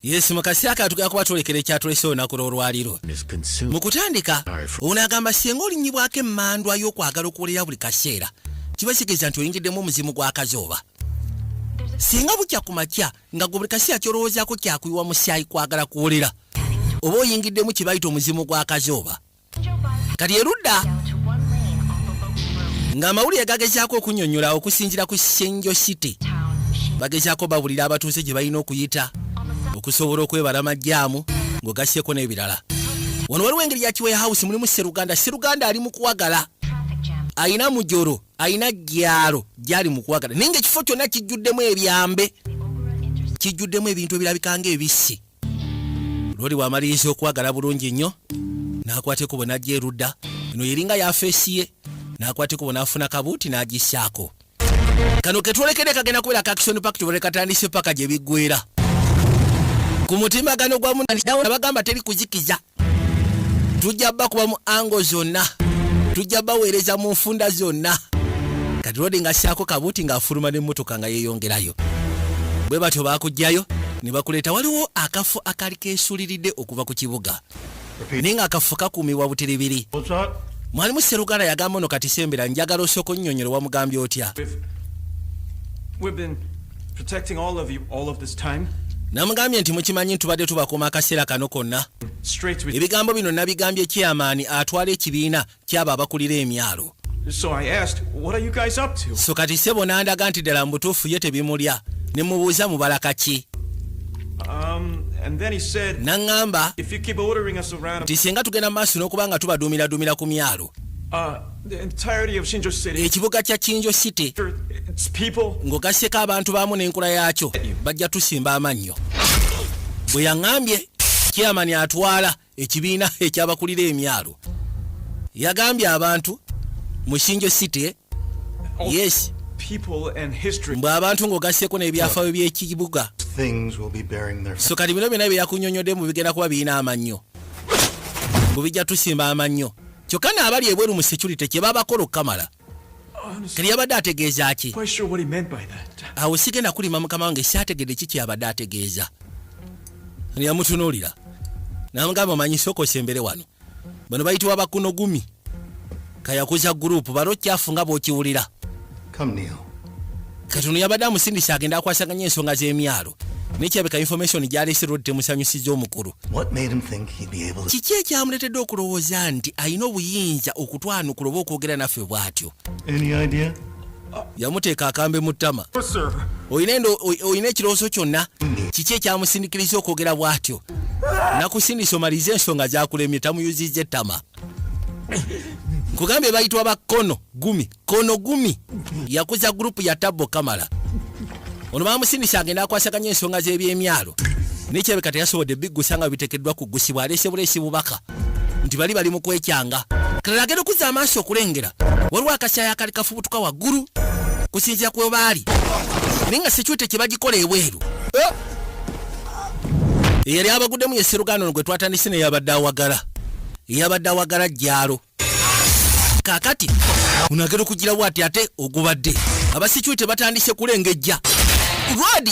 yesu mukasi aka tugenda kuba twolekera ekyatulese olunaku lw'olwaliro mu kutandika ono agamba singa olinyibwako emmandwa y'okwagala okuwulira buli kaseera kiba kitegeeza nti oyingiddemu omuzimu gw'akazooba singa bukya ku makya nga gwe buli kaseera kyolowoozaako kyakuyiwa musyayi kwagala kuwulira oba oyingiddemu kye bayita omuzimu gw'akazooba kati erudda ng'amawulire gagezaako okunyonyola okusinzira ku senjo city bagezaako babulira abatuuze gye balina okuyita okusobola okwebala amajjaamu ng'ogasseko n'ebirala wano waliwo engeri ya kiweya house mulimu seruganda seruganda ali mu kuwagala alina mujoro alina gyalo gyali mu kuwagala naye ngaekifo kyonna kijjuddemu ebyambe kijjuddemu ebintu ebirabika ngaebissi lwoli wamaliriza okwagala bulungi nnyo n'akwata ekubo n'ajja erudda eno yeringa yafeesi ye n'akwata ekubo n'afuna kabuuti n'agisaako kano ketwolekede kagenda kubeera kakisoni pak tubere katandise paka gye biggwera ku mutimbagano gwa munabagamba teri kuzikiza tujja bakuba mu ango zonna tujja baweereza mu nfunda zonna kati lodi nga ssaako kabuuti ng'afuluma n'emmotoka nga yeeyongerayo bwe batyo baakugjayo ne bakuleeta waliwo akafo akaali keesuliridde okuva ku kibuga naye ng'akafo kakuumibwa butiribiri mwalimu seruganda yagamba ono kati sembera njagala osooka onnyonnyole wamugambye otya protecting all of you all of this time namugambye nti mukimanyi ntubadde tubakuuma akaseera kano konna ebigambo bino nabigambye kyamaani atwala ekibiina kyabo abakulira emyalo so kati sebo nandaga nti ddala mu butuufu ye tebimulya ne mubuuza mubala kaki um, naŋŋamba nti singa tugenda mu maaso n'okuba nga tubaduumiraduumira ku myalo uh, ekibuga kya kinjo city ng'ogasseko abantu baamu n'enkula yaakyo bajja tusimba amannyo bwe yaŋambye kyamani atwala ekibiina ekyabakulira emyalo yagambye abantu mu kinjo city yes mbu abantu ng'ogasseko n'ebyafaayo by'ekibuga so kati bino byona bye yakunyonyodde mu bigenda kuba birina amannyo bubijja tusimba amannyo kyokka n'abali ebweru mu security kye babakola okukamala kati yabadde ategeeza ki awo sigenda kulima mukama wange syategedde ki kyabadde ategeeza yamutunuulira namugamba manyi sokosa embere wano bano bayitibwa bakunogumi kayakuza gurupu balo kyafu nga bwokiwulira Come kneel. kati ono yabadde amusindise agenda akwasaganya ensonga z'emyalo naye kirabika information gyaleese lwodi temusanyusiza omukulu What made him think he'd be able to? kiki ekyamuleetedde okulowooza nti alina obuyinza okutwanukula oba okwogera naffe bw'atyo Any idea? yamuteeka akambe mu ttama olina endo- oy- olina ekirowoozo kyonna kiki ekyamusindikiriza okwogera bw'atyo nakusindisa omalize ensonga zakulemye tamuyuzizza ettama nkugambye bayitwa bakkono gumi kono gumi yakuza gurupu ya tabbo kamala ono bamusindisa agenda akwasaganya ensonga z'ebyemyalo nekyebeka teyasobodde biggusa nga bitekeddwa kugusibwa aleese buleesi bubaka nti bali bali mu kwekyanga kalala agenda okuzza amaaso okulengera waliwo akasyayo akali kafubutuka waggulu kusinzira kwe baali naye nga sekyute kye bagikola ebweru eh? eyali abaguddemu ye sseruganda ono gwe twatandise neyabadde awagala eyabadde awagala jjaalo kakati unagera okugira wati ate ogubadde abasikiwe tebatandise kulengejja rwadi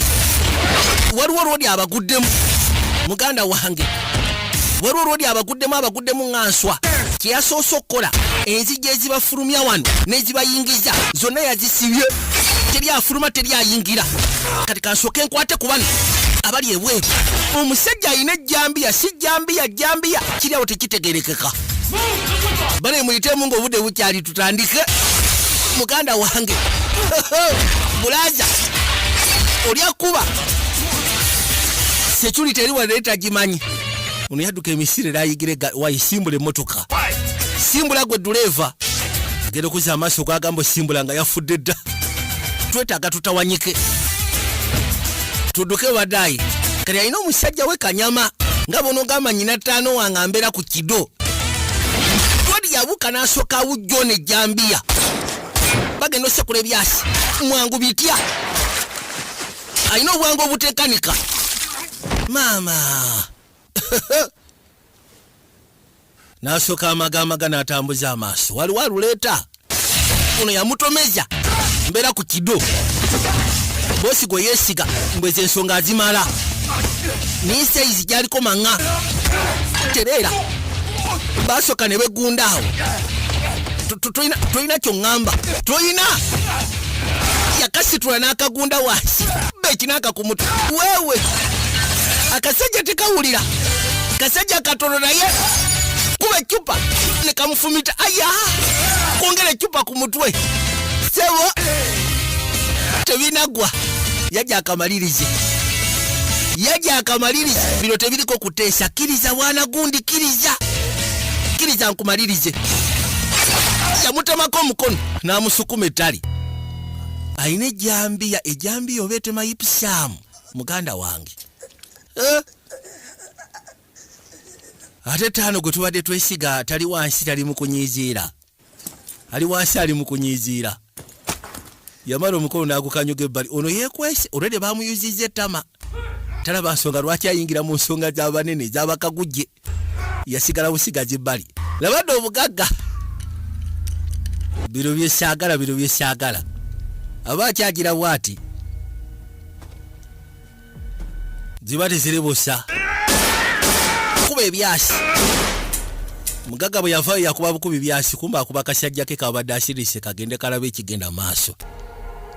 waliwo rwadi abaguddemu muganda wange waliwo rwadi abaguddemu abaguddemu nga nswa kyeyasoose okukola enzijja ezibafulumya wano nezibayingiza zonna yazisibye teri afuluma teri ayingira kati kansooke nkwate ku bano abali ebweru omusajja alina ejjambiya si jjambiya jjambiya kiri awo tekitegerekeka bale muyitemu ngaobude bukyali tutandike muganda wange bulaza olya kuba sekyuli teri wanaye tagimanyi ono yadduka emisiri erayigire wayisimbula emotoka simbula gwe duleeva agenda okuza amaaso gwagamba osimbula nga yafudde dda twetaaga tutawanyike tuduke wadayi kati alina omusajja we kanyama nga bwonogamba nyina taano wange ambeera ku kido todi yabuuka n'asooka awujjo ne jambiya bagenda osekula ebyasi mwangu bitya alina obwangu obutekanika maama n'asooka amagamaga n'atambuza amaaso waliwo aluleeta ono yamutomeza mbeera ku kido boosi gwe yeesiga mbweza ensonga azimala naye sayizi gyaliko maŋa tereera baasooka ne begundaawo tolina kyoŋŋamba tolina yakasitula n'akagunda wansi beki n'akakumutu wewe akasajja tekawulira kasajja katono naye kuba ecupa nekamufumita aya kwongera ecupa ku mutwe sebo tebinagwa yaja akamalirize yaja akamalirize bino tebiriko kuteesa kiriza wana gundi kiriza kiriza nkumalirize yamutemako omukono n'amusukuma ettali alina ejjambiya ejjambiya oba etema yipusaamu muganda wange eh? ate taano gwe tubadde twesiga tali wansi tali mukunyiiziira ali wansi ali mukunyiiziira yamala omukono n'agukanyuga ebbali ono yekwese olwede bamuyuziza ettama talaba nsonga lwaki ayingira mu nsonga z'abanene ez'abakagujje yasigala busigazi bbali labadde obugagga bino byesaagala bino byesaagala aba akyagira bwati ziba tezirebusa kuba ebyasi mugagga bwe yavayo yakuba bukubi byasi kumba akuba kasajja ke kabadde asirise kagende kalaba ekigenda maaso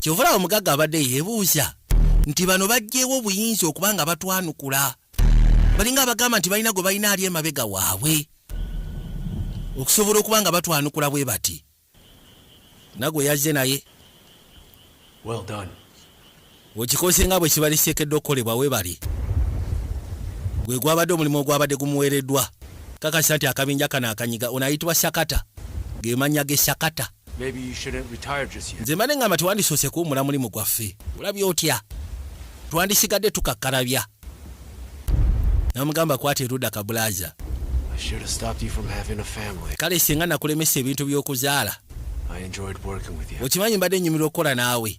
kyovula omugaga abadde yebuuza nti bano bajjeewo obuyinza okuba nga batwanukula balinga abagamba nti balina gwe balina ali emabega waabwe okusobola okuba nga batwanukula bwe bati nagwe yazze naye well done okikoze nga bwe kibali kiteekeddwa okukolebwa we bali gwe gwabadde omulimu ogwabadde gumuweereddwa kakasa nti akabinja kano akanyiga ono ayitibwa sakata ge mannya ge sakata nze mbadde ngamba tewandisoose kuwumula mulimu gwaffe olabye otya twandisigadde tukakkalabya namugamba kwata eruda kabulaza kale singa nakulemesa ebintu by'okuzaala okimanyi mbadde nyumirwa okukola naawe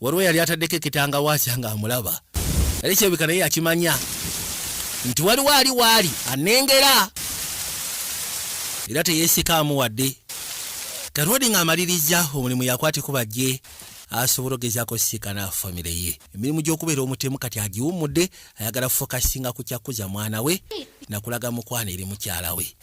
waliwo yali ataddeko ekitanga waasya nga amulaba yali kyebika naye yakimanya nti waliwo ali waali anengera era teyeesikaamu wadde karodi ng'amaliriza omulimu yakwatiko bajje asobola ogezaako sisikana famire ye emirimu gy'okubeera omutemu kati agiwummudde ayagala fokasinga ku kyakuza mwana we nakulaga mukwana eri mukyala we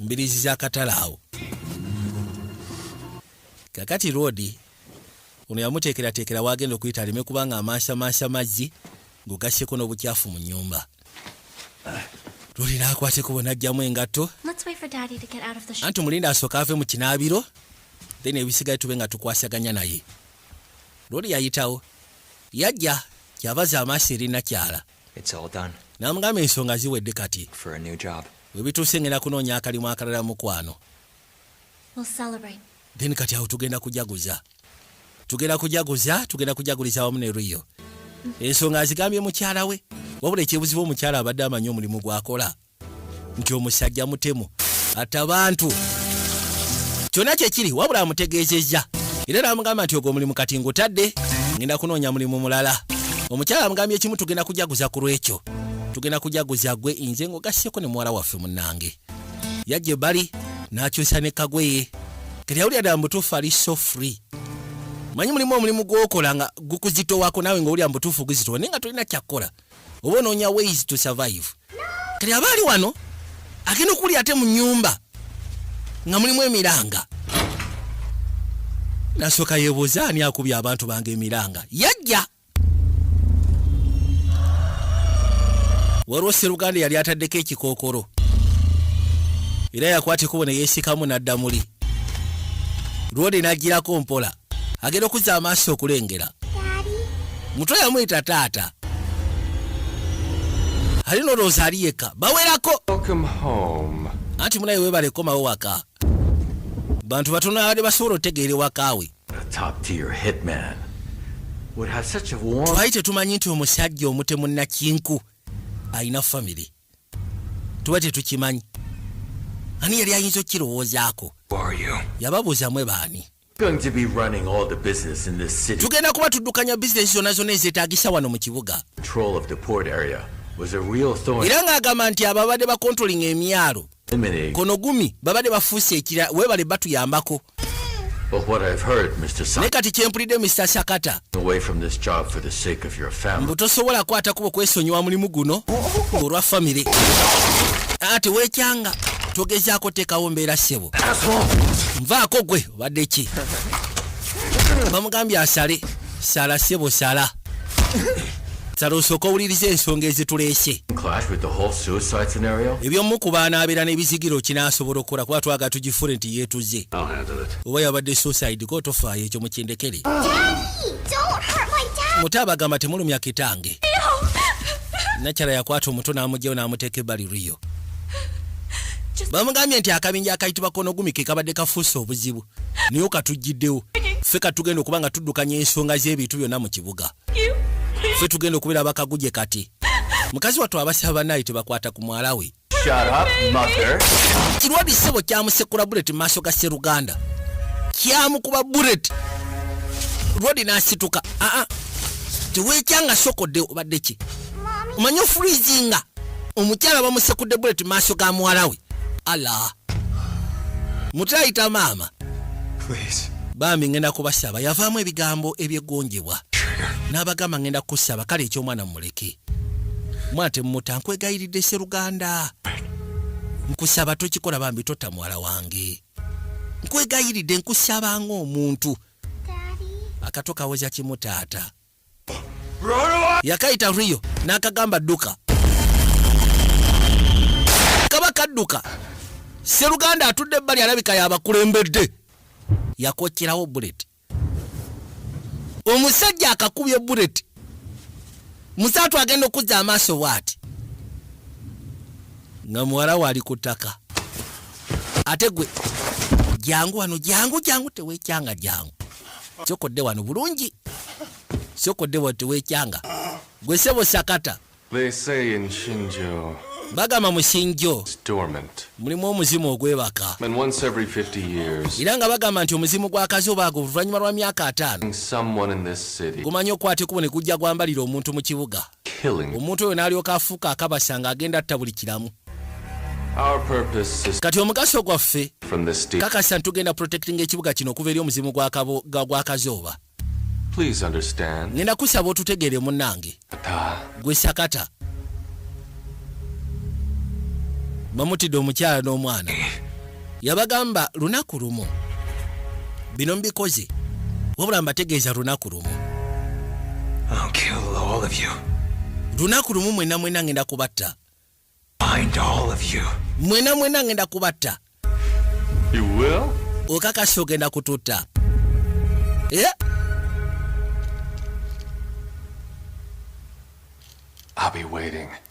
mbirizi za katale awo kakati roodi ono yamuteekerateekera waagenda okuyita aleme kubanga amansamansa mazzi ng'ogasseko n'obukyafu mu nnyumba lulina akwateko bona ajjamu engatto anti omulinda asooka ave mu kinaabiro then ebisigaye tube nga tukwasaganya naye luli yayitawo yajja kyavaza amaaso erinakyala Namugamba ensonga ziwedde kati webituuse ngenda kunoonya akalimu akalala mukwano then kati awo tugenda kujaguza tugenda kujaguza tugenda kujaguliza wamu ne riyo ensonga azigambye mukyala we wabula ekyebuzibu omukyala abadde amanyi omulimu gwakola nti omusajja mutemu atta bantu kyonna kyekiri wabula amutegeezezza era namugamba nti ogwo omulimu kati ngutadde ngenda kunoonya mulimu mulala omukyala amugambye ekimu tugenda kujaguza ku lwekyo tugenda kujaguza gwe inze ngaogasseko ne muwala waffe munnange yajja ebbali n'akyusa ne kagweye kati awulira ddala mubutuufu ali so free manyi mulimu omulimu gwokola nga gukuzitowako naawe ngaowulira mubutuufu guzitowa naye nga tolina kyakukola oba onoonya ways to survive kati aba ali wano agenda okuli ate mu nyumba nga mulimu emiranga nasooka yebuuza ani akubye abantu bange emiranga yajja waliwo seruganda yali ataddeko ekikookolo era yakwata ekubo ne yeesikamu n'adda muli lwode n'agirako mpola agenda okuzza amaaso okulengera mutwe yamuyita taata ali nolowooza ali yekka bawerako anti munaye webale komawo waka bantu batono abadde basobola otegeera ewakaawe twali tetumanyi nti omusajja omutemu nakinku alina famiry tuba tetukimanyi ani yali ayinza okukirowoozaako yababuuza mwe baani Tugenda kuba tuddukanya bizinensi zonna zonna ezeetaagisa wano mu kibuga. Era ng'agamba nti abo ababadde bakontrolinga emyalo kono gumi babadde bafuuse ekira weebale batuyambako. Naye kati kye mpulidde Mister Sakata mbu tosobola kwata kubo kwesonyiwa mulimu guno olwa famire aa tewekyanga togezaako teekawo mbeera ssebo nvaako gwe obadde ki bamugambye asale sala ssebo sala sala osooka owuliriza ensonga ezituleese ebyomukubaanaabeera n'ebizigiro kinaasobola okukola kuba twaga tugifuure nti yeetuze oba yabadde suicide ko tofaayo ekyo mukindekere muto abagamba temulumya kitange nakyala yakwata omuto n'amugyewo n'amuteeka ebbali riyo bamugambye nti akabinja akayitibwa konogumi ke kabadde kafuuse obuzibu naye okatugiddewo ffe katugenda okuba nga tuddukanya ensonga z'ebintu byonna mu kibuga ffe tugenda okubeera bakaguje kati mukazi wattu abasaba banaye tebakwata ku mwala we Shut up, mother. Kirwadi sebo kyamusekula bullet maaso ga Seruganda. Kyamukuba bullet. Rwadi nasituka. Ah ah. Tewekyanga soko de obadde ki? Manyo freezinga. Omukyala bamusekudde bullet maaso ga muwala we. Allah. mukyayita maama bambi ngenda kubasaba yavaamu ebigambo ebyeggonjebwa n'abagamba ngenda kukusaba kale eky'omwana mumuleke mwana temumuta nkwegayiridde seruganda nkusaba tokikola bambi totta muwala wange nkwegayiridde nkusaba ng'omuntu akato kawoza kimu taata yakaita rio nakagamba duka kaba kaduka seruganda atudde ebbali alabika yabakulembedde yakokyerawo bullet omusajja akakubye bullet musatu agenda okuzza amaaso bwati nga muwala wali ku ttaka ate gwe jangu wano jangu jangu tewekyanga jangu kyokodde wano bulungi kyokodde wano tewekyanga gwe sebo sakata bagamba mu shinjo mulimu omuzimu ogwebaka era nga bagamba nti omuzimu gwakazi obaago oluvannyuma lwa myaka ataano gumanya okukwata ekubo ne gujja gwambalira omuntu mu kibuga killing. Omuntu oyo n'alyoka afuuka akabasa ng'agenda atta buli kiramu. Kati omugaso gwaffe kakasa ntugenda protectinga ekibuga kino okuva eri omuzimu gwa kazooba. Ngenda kusaba otutegeere munnange. Gwe sakata. Bamutidde omukyala n'omwana. yabagamba lunaku lumu bino mbikoze wabula mbategeeza lunaku lumu lunaku lumu mwena mwena ngenda kubatta mwena mwena ngenda kubatta okakasi ogenda kututta yeah.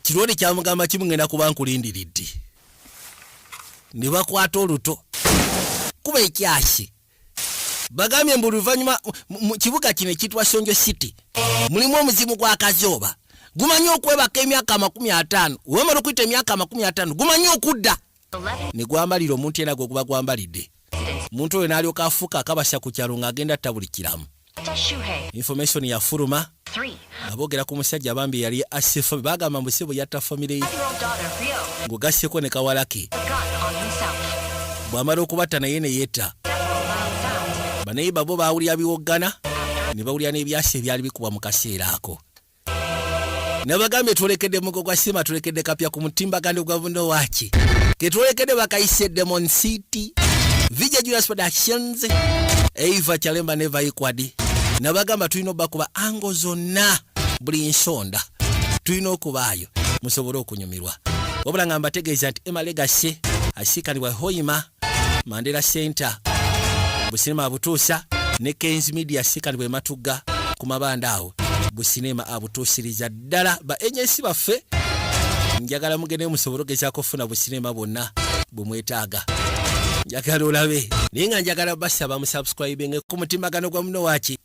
kirwoni kyamugamba kimugenda kuba nkulindiridde ne bakwata oluto kuba ekyasi bagambye mbu luvannyuma mu kibuga kino ekiyitibwa sonjo city mulimu omuzimu gwa kazooba gumanyi okwebaka emyaka amakumi ataano wemala okuyita emyaka amakumi ataano gumanyi okudda ne gwambalira omuntu yena gwe guba gwambalidde omuntu oyo n'alyoka afuuka akabasa ku kyalo ng'agenda atta buli kiramu information yafuluma nga boogera ku musajja bambi yali asse fami bagamba mbu si bwe yatta famire ye ng'ogasseko ne kawalake bw'amala okubatta naye ne yetta banayiba bo baawulira biwoggana ne bawulira n'ebyasa ebyali bikubwa mu kaseera ako nabagambye twolekede mugo gwa sima twolekede kapya ku mutimbagano gwa buno waki ketwolekede bakayise demon city vija julius productions eiva chalemba neva ikwadi nabagamba tulina obakuba ango zonna buli nsonda tulina okubaayo musobole okunyumirwa wabula nga mbategeeza nti emalegasi asikanibwa hoima mandela center businema abutuusa ne kens media sikani bwematugga ku mabanda awo businema abutuusiriza ddala ba agensi baffe njagala mugende musobole ogezaako okufuna businema bwonna bwemwetaaga njagala olabe naye nga njagala basaba musubscribinge ku mutimagano gwa muno waki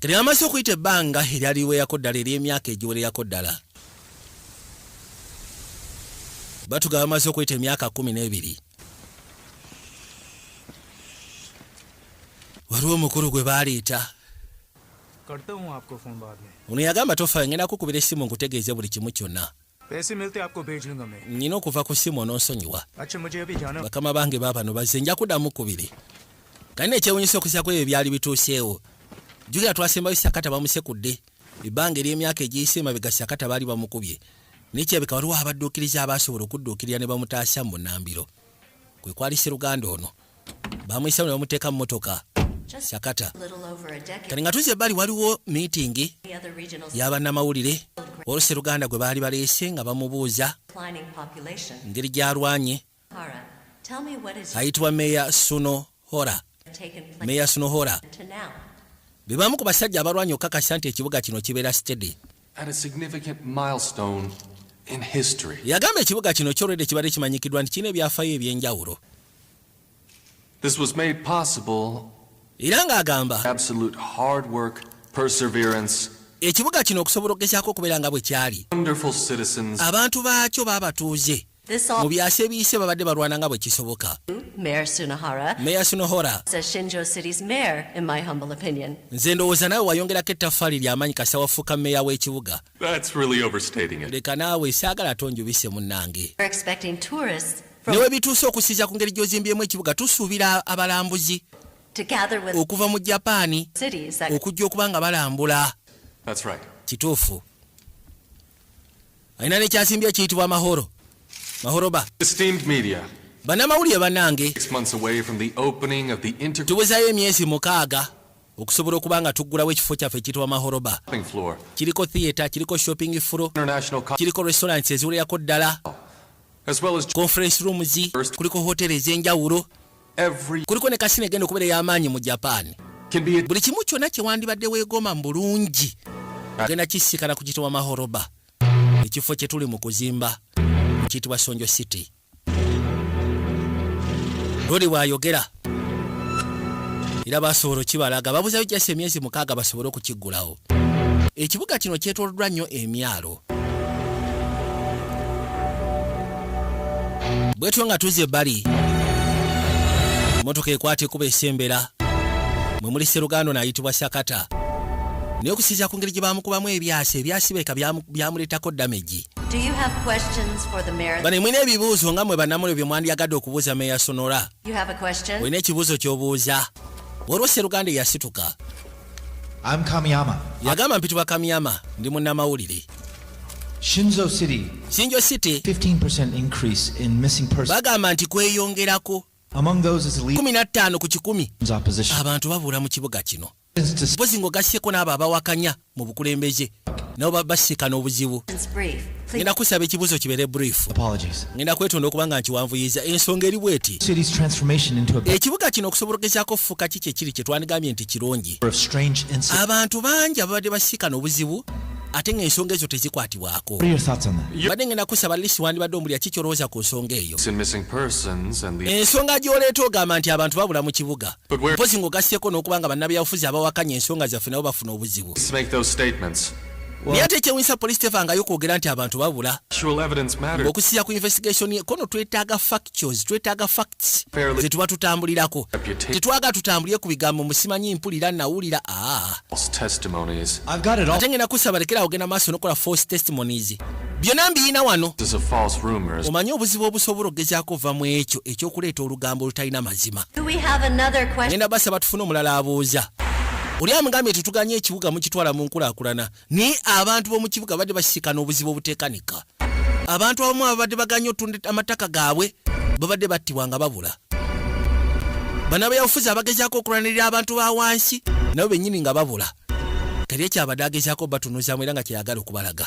Kati amaze okuyita ebbanga eryaliweerako ddala ery'emyaka egiwererako ddala. Batuga bamaze okuyita emyaka kumi n'ebiri. Waliwo omukulu gwe baaleeta. Ono yagamba tofa ngenda kukubira essimu nkutegeeze buli kimu kyonna. nnyina okuva ku ssimu ononsonyiwa bakama bange baabano bazze nja kuddamu kubiri kali nekyewunyisa okusaku ebyo byali bituuseewo jukira twasembayo sakata bamusekudde ebbanga ery'emyaka egiyise emabega sakata baali bamukubye nekyebeka waliwo abadduukiriza abaasobola okudduukirira ne bamutaasa mu munambiro kwe kwali sseruganda ono bamuyisao ne bamuteeka mu motoka sakata kati nga tuze ebbali waliwo miitingi y'abannamawulire oluseruganda gwe baali baleese nga bamubuuza ngeri gy'alwanye ayitibwa meya suno hora meya suno hora be bamu ku basajja abalwanye okukakasa nti ekibuga kino kibeera stede At a significant milestone in history. Yagamba ekibuga kino kyolwedde kibadde kimanyikiddwa nti kirina ebyafayo eby'enjawulo. This was made possible era ng'agamba absolute hard work, perseverance, ekibuga kino okusobola okugezaako okubeera nga bwe kyali abantu baakyo baabatuuze mu byasa ebiyise babadde balwana nga bwe kisoboka meya sunohora nze ndowooza naawe wayongerako ettaffaali ly'amaanyi kasita wafuuka meya w'ekibuga leka naawe saagala tonjubise munnange newe bituuse okusiiza ku ngeri gy'ozimbyemu ekibuga tusuubira abalambuzi okuva mu japaani okujja okuba nga balambula kituufu alina nekyasimbye ekiyitibwa mahoro mahoroba banamawulire banange tuwezayo emyezi mukaaga okusobola okuba nga tuggulawo ekifo kyaffe ekiyitibwa mahoroba kiriko theatre kiriko shopping furo kiriko restaurants eziwererako ddala conference rooms kuliko hoteri ezenjawulo kuliko ne kasina egenda okubeera ey'amaanyi mu japan buli kimu kyonna kye wandibadde weegomba mu bulungi ogenda kisikana ku kitibwa mahoroba ekifo kye tuli mu kuzimba mu kitibwa sonjo city luli bwayogera era basobola okibalaga babuzayo jasi emyezi mukaaga basobole okukiggulawo ekibuga kino kyetoloddwa nnyo emyalo bwetyo nga tuze ebbali emotoka ekwata ekuba esembera mwe muli serugando nayitibwa sakata naye okusinzira ku ngeri gye bamukubamu ebyasa ebyasibeka byamuleetako damagi bane mwina ebibuuzo nga mwe banamulyo bye mwandyagadde okubuuza meya sonora olina ekibuuzo ky'obuuza waliwo seruganda eyasituka I'm Kamiyama. Agamba mpitibwa Kamiyama ndi munnamawulire. Shinzo City. Shinzo City. 15% increase in missing persons. Bagamba nti kweyongerako. Among those is lead. 15 ku kikumi. Abantu babuula mu kibuga kino. Mpozi ng'ogasseeko n'abo abawakanya mu bukulembeze. nabo basikana obuzibu ngenda kusaba ekibuuzo kibeere brief ngenda kwetonda okuba nga nkiwanvuyiza ensonga eri bweti ekibuga kino okusobologezako okufuuka ki kyekiri kye twandigambye nti kirungi abantu bangi ababadde basikana obuzibu ate nga ensonga ezo tezikwatibwako badde ngenda kusaba lisi wandibadde omulya kikyolowooza ku nsonga eyo ensonga gyoleeta ogamba nti abantu babula mu kibuga mpozi ng'ogasseeko n'okuba nga bannabyabufuzi abawakanya ensonga zaffe nabo bafuna obuzibu naye ate ekyewunyisa poliisi tevangayo kwogera nti abantu babula okusiya ku investigation ye kono twetaaga factuals twetaaga facts ze tuba tutambulirako tetwaga tutambulire ku bigambo musimanyi mpulira nawulira ah. ate ngenda kusaba lekera ogenda maaso nokola false testimonies byonna mbiyina wano omanyi obuzibu obusobola okugezaako va mu ekyo ekyokuleeta olugambo olutalina mazima ngenda basaba tufune omulala abuuza oli amugambye tetuganye ekibuga mukitwala mu nkulakulana naye abantu b'omu kibuga badde bakisikana obuzibu obutekanika abantu abamu ababadde baganye otunda amataka gaabwe babadde battibwa nga babula banabeyabufuzi abagezaako okulwanirira abantu ba wansi nabo bennyini nga babula teri ekyabadde agezaako batunuzamu era nga kyeyagala okubalaga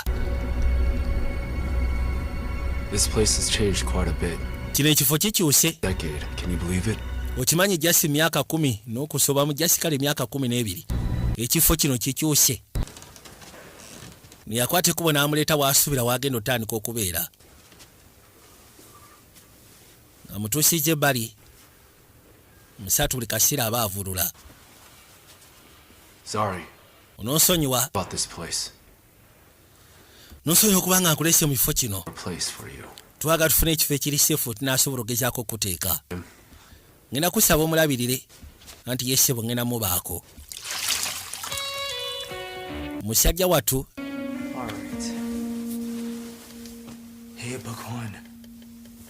kino ekifo kikyuse okimanyi jasi myaka kumi n'okusobamu jasi kale myaka kumi n'ebiri ekifo kino kikyuse neyakwata ekubo n'amuleeta waasuubira waagenda otandika okubeera amutuusiza ebbali Musatu buli kaseera aba avulula. Sorry. Ononsonyiwa. About this place. Nonsonyiwa kubanga nkulese mu kifo kino. A place for you. Twaga tufune ekifo ekiri sefu tunasobola okugezaako okuteeka. Ngenda kusaba omulabirire anti yesebo ngenda mubaako. Musajja watu. All right. Hey, Buckhorn.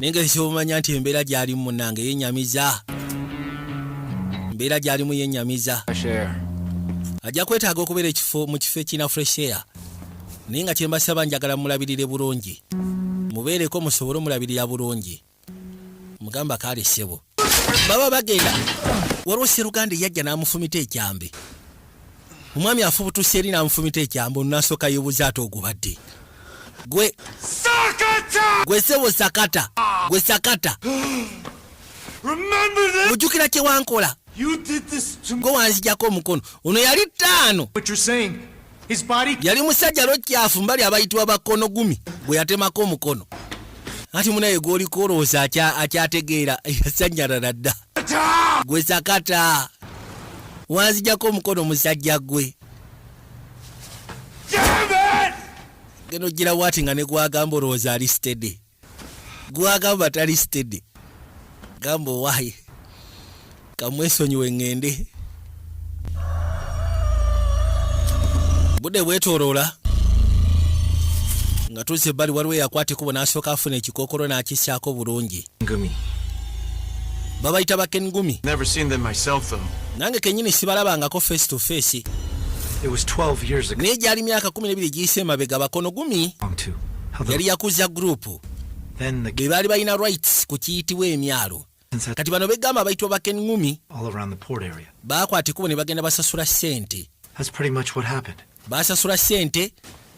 naye nga ekyomanya nti embeera gyalimu munange yenyamiza embeera gyalimu yenyamiza ajja kwetaaga okubeera ekifo mu kifo ekirina fresh air naye nga kyembasaba njagala mulabirire bulungi mubeereko musobole omulabirira bulungi mugamba kaali ssebo baba bagenda waliwo seruganda eyajja n'amufumita ekyambe omwami afubutuse eri namufumita ekyambo nasoka yobuza ate ogubadde gwe sakata gwe sebo sakata gwe sakata ojukira kyewankola gwe wanzijako omukono ono yali taano yali musajja lwekyafu mbali abayitibwa bakono gumi gwe yatemako omukono ati munaye gwolikowolowooza akyategeera yasanyalala dda gwe sakata wanzijako omukono musajja gwe geno gira wati nga negwagamba olowooza ali stede gwagamba tali stede gamba owaye kamwesonyiwe ŋŋende budde bwetoloola nga tuzze ebbali waliwo eyakwata ekubo n'asooka afuna ekikookolo n'akisaako bulungi Ngumi. Babayita ba Ken Ngumi. Never seen them myself though. Nange kenyini sibalabangako face to face. It was 12 years ago. Naye gyali myaka 12 giyise emabega bakono gumi. Yali yakuza group. Then the baali balina rights ku kiyitibwa emyalo. Kati bano begamba abayitibwa ba Ken Ngumi. All around the port area. Baakwata ekubo ne bagenda basasula sente. That's pretty much what happened. Baasasula sente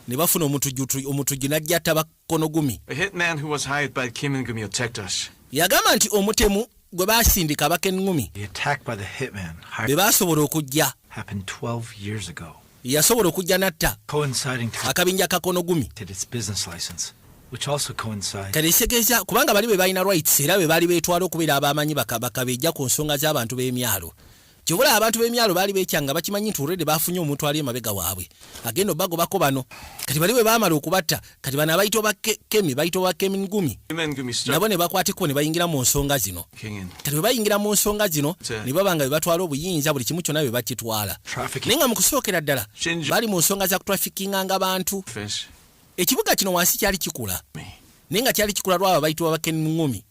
ne bafuna omutujju omutujju n'ajja Kono Gumi. A hitman who was hired by Kimin Gumi attacked us. Yagamba nti omutemu gwe baasindika Abaken Gumi. The attack by the hitman. Be baasobola okujja. Happened 12 years ago. Yasobola okujja natta. Coinciding to. Akabinja ka Kono Gumi. Did its business license. Which also coincides. Kale segeza kubanga bali be balina rights era be bali betwala okubera abamanyi bakabaka beja ku nsonga z'abantu b'emyalo. Kyova olaba abantu b'emyalo baali beekyanga bakimanyi nti already baafunye omuntu ali emabega waabwe agenda obagobako bano kati bali bwe baamala okubatta kati bano abayita oba kemi bayita oba kemi ngumi nabo ne bakwatikko ne bayingira mu nsonga zino kati bwe bayingira mu nsonga zino ne baba nga bwe batwala obuyinza buli kimu kyonna bwe bakitwala naye nga mu kusookera ddala baali mu nsonga za kutrafikinganga bantu ekibuga kino wansi kyali kikula naye nga kyali kikula lwabo abayitibwa bakeni ngumi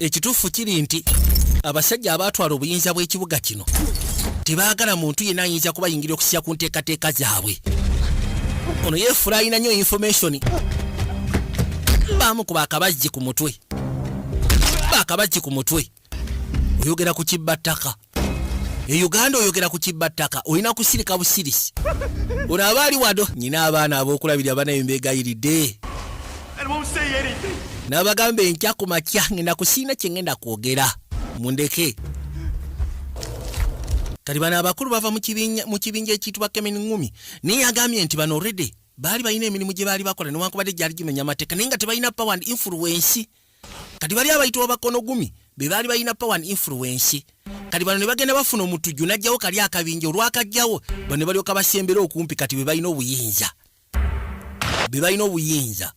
ekituufu kiri nti abasajja abaatwala obuyinza bw'ekibuga kino tebaagala muntu yenna ayinza kubayingira okusiya ku nteekateeka zaabwe ono yeefula alina nnyo infomationi baamu ku bakabajji ku mutwe bakabajji ku mutwe oyogera ku kibba ttaka e uganda oyogera ku kibba ttaka olina kusirika busirisi ono aba ali wado nyina abaana abokulabirira banaye mbegayiridde nabagamba enkya ku makya ngenda kusiina kyengenda kwogera mundeke kati bano abakulu bava mu kibinja ekiyitibwa kemin ngumi naye yagambye nti bano redi baali balina emirimu gye baali bakola newankubadde gyali gimenya amateeka naye nga tebalina power and influence kati bali abayitibwa bakono gumi be baali balina power and influence kati bano ne bagenda bafuna omutujju n'ajjawo kali akabinja olwakajjawo bano ne balyoka basembera okumpi kati be balina obuyinza be balina obuyinza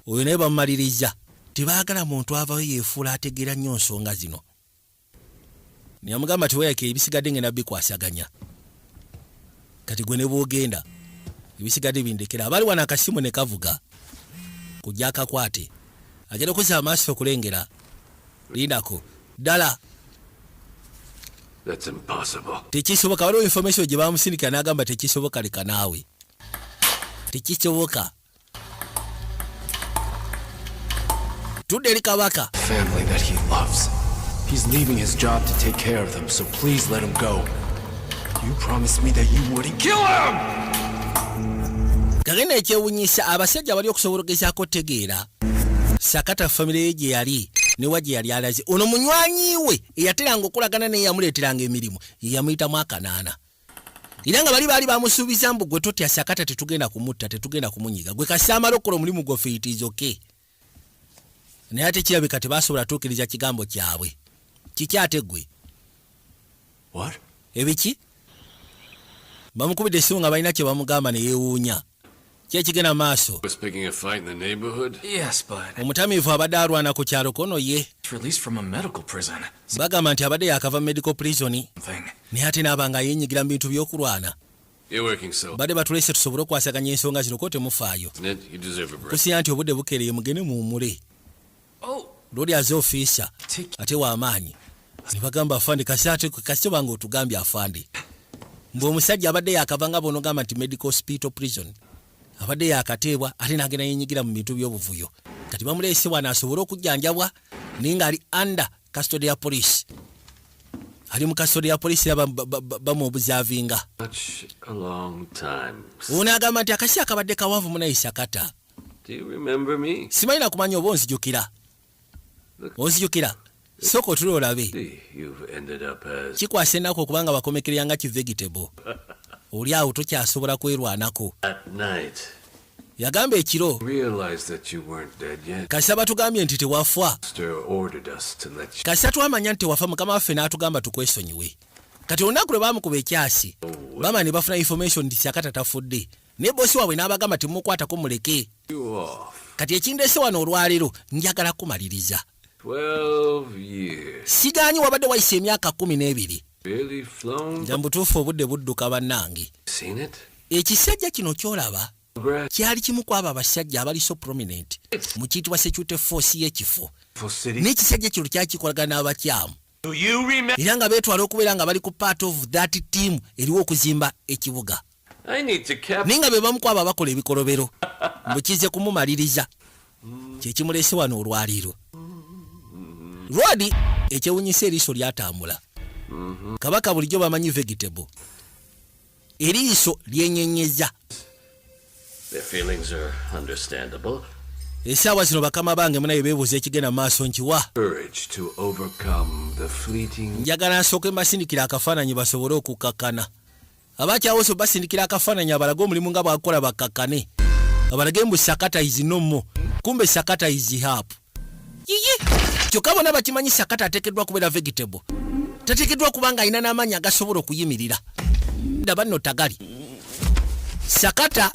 oyo naye bamumaliriza tebaagala muntu avayo yeefuula ategeera nnyo nsonga zino Neyamugamba ti weyake ebisigadde ngenda bikwasaganya kati gwe nebwogenda ebisigadde bindekera abali wano akasimu nekavuga kujja akakwate agenda okozesa amaaso okulengera lindako ddala tekisoboka waliwo information gye bamusindikira n'agamba tekisoboka leka naawe tekisoboka tudde eri kabaka family that he loves he's leaving his job to take care of them so please let him go you promised me that you wouldn't kill him kagenda ekyewunyisa abasajja bali okusobola okugezaako otegeera sakata famire ye gye yali newa gye yali alaze ono munywanyi we eyateranga okolagana naye yamuleeteranga emirimu yeyamuyitamu akanaana era nga bali baali bamusuubiza mbu gwe totya sakata tetugenda kumutta tetugenda kumunyiga gwe kasamala okukola omulimu gwaffe itizoke naye ate kirabika tebasobola tuukiriza kigambo kyabwe kiki ate gwe ebiki bamukubidde esimu nga balina kye bamugamba ne yeewuunya kyekigenda mu maaso omutamiivu abadde alwana ku kyalo kono ye bagamba nti abadde yakava mu medical prison naye ate naaba nga yenyigira mu bintu by'okulwana badde batulese tusobole okwasaganya ensonga zino ko temufaayo kusiya nti obudde bukeereye mugende muwumule lwoli aze ofiisa ate wamaanyi nebagamba afande kasite banga otugambye afande mbu omusajja abadde yakava nga bonogamba nti medical hospital prison abadde yakateebwa ate nagenda yenyigira mu bintu byobuvuyo kati bamuleese wano asobole okujjanjabwa naye nga ali under custody ya police ali mu custody ya police era bamuobuzavinga ono agamba nti akasi akabadde kawanvu munayisa kata simanyi nakumanya oba onzijukira onzijukira sooka otula olabe kikwasa ennaku okuba nga wakomekerera nga kivegetable oli awo tokyasobola kwerwanako yagamba ekiro kasita batugambye nti tewafwa kasita twamanya nti tewafa mukama waffe n'atugamba tukwesonyiwe kati olunaku lwe baamukuba ekyasi oh, bama ne bafuna information nti sakata tafudde naye bosi waabwe n'abagamba temumukwatako muleke kati ekindeese wano olwaleero njagala kumaliriza sigaanyi wabadde wayisa emyaka kumi n'ebiri nja mubutuufu obudde budduka bannange ekisajja kino kyolaba kyali kimu ku abo abasajja abali so prominent mu kiyitibwa security force y'ekifo n'ekisajja kino kyakikolagana n'abakyamu era nga beetwala okubeera nga bali ku part of that team eriwo okuzimba ekibuga naye nga be bamu ku abo abakola ebikolobero mbu kize kumumaliriza kye kimulese wano olwaliiro lwadi ekyewunyisa eriiso lyatambula kabaka bulijjo bamanyi vegetable eriiso lyenyenyeza esaawa zino bakama bange munaye bebuuza ekigenda maaso nkiwa njagala nsooke mbasindikira akafaananyi basobole okukakkana abakyawose basindikira akafaananyi abalage omulimu nga bwakukola bakkakkane abalage mbu sakata is no more kumbe sakata is hap yiyi kyokka bona bakimanyi sakata ateekeddwa kubeera vegetable tateekeddwa kuba nga alina n'amaanyi agasobola okuyimirira ndaba nno tagali sakata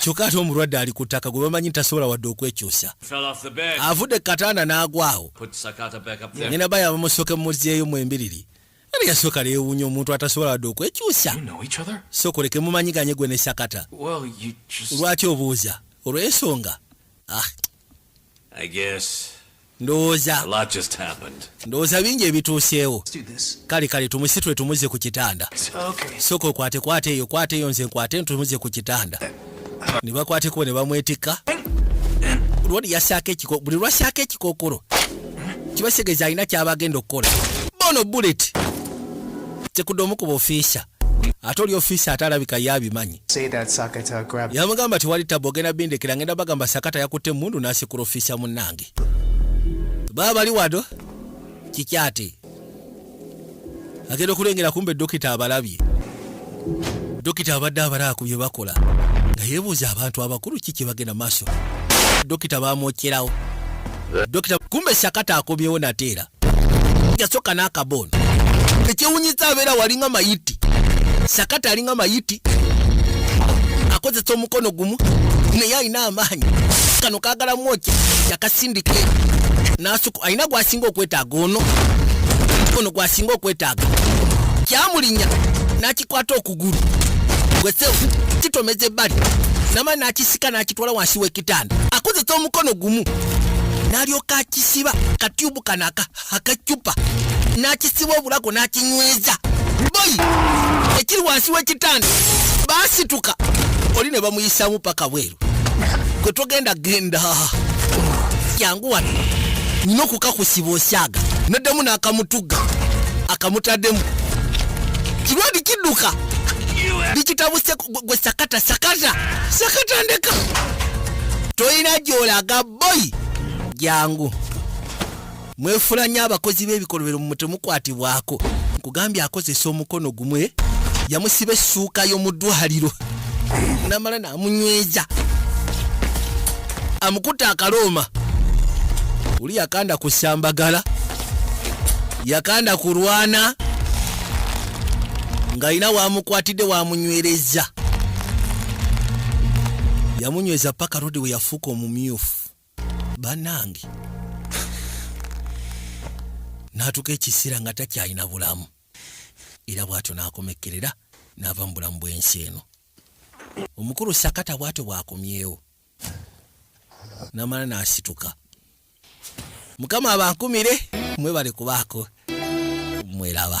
kyokka ate omulwadde ali ku ttaka gwe bamanyi nti tasobola wadde okwekyusa avudde ku katanda n'agwawo nyina ba yabamusooke mumuzzeeyo mu embiriri era yasooka neyewuunya omuntu atasobola wadde okwekyusa sokoleke mumanyiganye gwe ne sakata lwaki obuuza olw'ensonga ah. I guess ndowooza ndowooza bingi ebituuseewo kale kale tumusitule tumuze ku kitanda soka okwate kwate eyo kwate eyo nze nkwate ntumuze ku kitanda ne bakwatekubo ne bamwetikka buli lwasaako ekikookolo kibasegeeza alina kyaba agenda okukola bono bullet tekudde omu ku bofiisa ate oli ofiisi ate alabika ye abimanyi yamugamba tewali tabu ogenda bindekera ngenda bagamba sakata yakutte emundu nasikula ofiisi ya munnange baba bali wado kikyate agenda okulengera kumbe dokita abalabye dokita abadde abalaaku bye bakola nga yebuuza abantu abakulu ki kyebagenda maaso dokita bamwokyerawo dokita kumbe sakata akomyewo nateera yasoka n'akabooni ekyewunyisa abeera walinga mayiti sakata alinga mayiti akozesa omukono gumu naye alina amaanyi kano kagala mwoki yakasindika nasuku alina gwasinga okwetaaga ono ono gwasinga okwetaaga kyamulinya nakikwata okugulu gwesewu kitomeza ebbali nama nakisika nakitwala wansi wek kitanda akozesa omukono gumu n'alyoka akisiba katyubu kano akacupa n'akisiba obulako n'akinyweza boyi ekiri wansi w'ekitanda baasituka oli ne bamuyisaamu paka bweru gwe togenda genda jangu wano nyina okukakusiba osyaga naddemu n'akamutuga akamutaddemu kirwadi kidduka likitabuseko gwe sakata sakata sakata ndeka tolina gyolaga boyi jangu mwefula nyo abakozi b'ebikolobero mu temukwatibwako nkugambye akozesa omukono gumwe yamusiba essuuka y'omu ddwaliro namala namunyweza amukutte akalooma oli yakanda ku sambagala yakanda kulwana ng'alina waamukwatidde waamunywereza yamunyweza paka rodi we yafuuka omumyufu banange n'atuuka ekiseera nga takyalina bulamu era bw'atyo n'akomekkerera n'ava mu bulamu bw'ensi eno omukulu sakata bw'atyo bw'akomyewo namala nasituka mukama abankumire mwebale kubaako mweraba